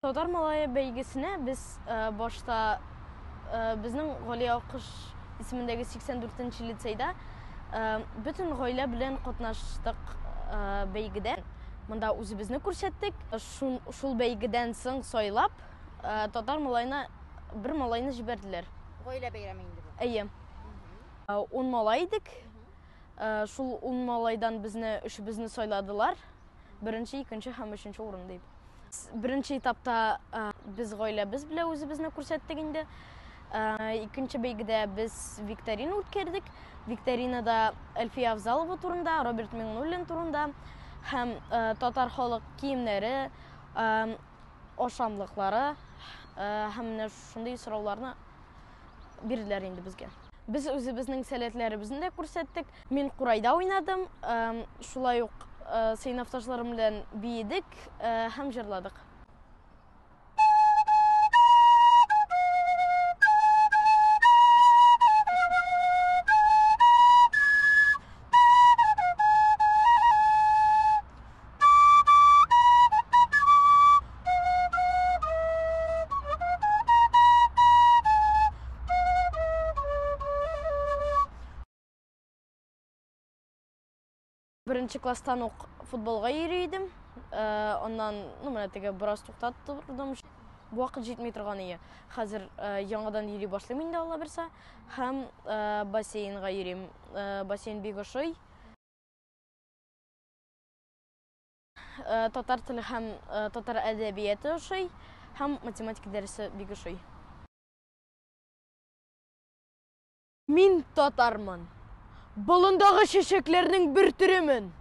Татар малае бәйгесенә без э, башта э, безнең Гали Акыш исемендәге 84 нче лицейда э, бөтен гаилә белән катнаштык бәйгедә. Монда үзебезне күрсәттек. Шул, шул бәйгедән соң сайлап татар малайына бер малайны җибәрделәр. Гаилә бәйрәме инде бу. Әйе. 10 малай идек. Ә, шул ун малайдан безне өчебезне сайладылар. Беренче, икенче һәм өченче урын дип. Беренче этапта ә, без гаиләбез белән үзебезне күрсәттек инде. Ә, икенче бәйгедә без викторина үткәрдек. Викторинада Әлфия Авзалова турында, Роберт Миңнуллин турында һәм ә, татар халык киемнәре, ә, ашамлыклары ә, һәм менә шундый сорауларны бирделәр инде безгә. Без үзебезнең сәләтләребезне дә күрсәттек. Мин курайда уйнадым, шулай ук сыйныфташларым белән биедек һәм җырладык. Беренче класстан ук футболга йөри идем. Э, аннан, ну, менә теге бераз туктап тордым. Вакыт җитми торган ие. Хәзер э, яңадан йөри башлыйм инде Алла берсә. Һәм э, бассейнга йөрим. Бассейн бик ошый. Э, татар теле һәм э, татар әдәбияты ошый һәм математика дәресе бик ошый мин татармын болындагы чәчәкләрнең бер төремен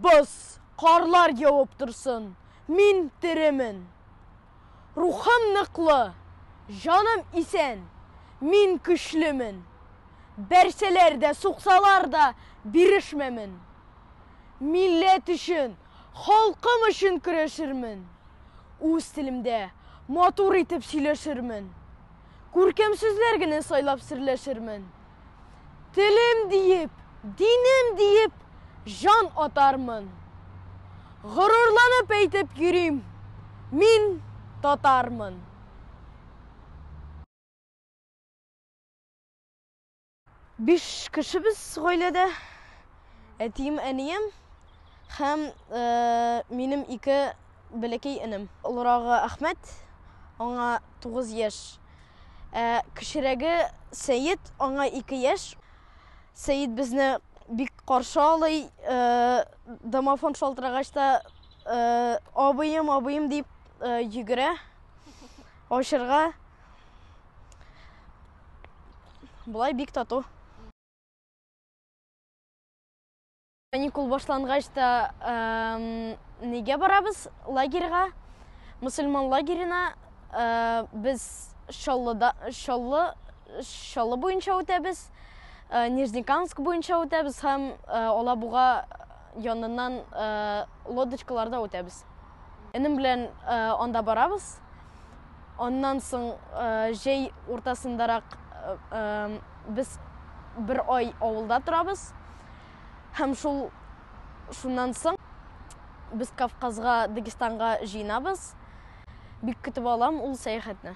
боз карлар явып торсын мин теремен Рухым ныклы, җаным исән, мин көчлемен. Бәрсәләр дә, суксалар да, бирешмәмен. Милләт өчен, халкым өчен көрәшермен. Үз телемдә матур итеп сөйләшермен. Күркәм сүзләр генә сайлап серләшермен. Телем диеп, динем диеп җан атармын. Горурланып әйтеп йөрим, мин татармын. Биш кешебез гаиләдә, әтием, әнием һәм минем ике бәләкәй энем. Олырагы Әхмәт, аңа тугыз яшь. Ә кечерәге Сәет, аңа ике яшь. Сәет безне бик каршы алый, э, домофон шалтырагач та, э, абыем, абыем дип э, йөгерә ачырга. Болай бик тату. Каникул башлангач та нигә барабыз лагерьга? Мусульман лагерена без Шаллыда Шаллы Шаллы буенча үтәбез. Нижнекамск буенча үтәбез һәм Алабуга яныннан лодочкаларда үтәбез. Энем белән анда барабыз. Аннан соң җәй уртасындарак без бер ай авылда торабыз. Һәм шул шуннан соң без Кавказга, Дагестанга җыенабыз. Бик көтеп алам ул сәяхәтне.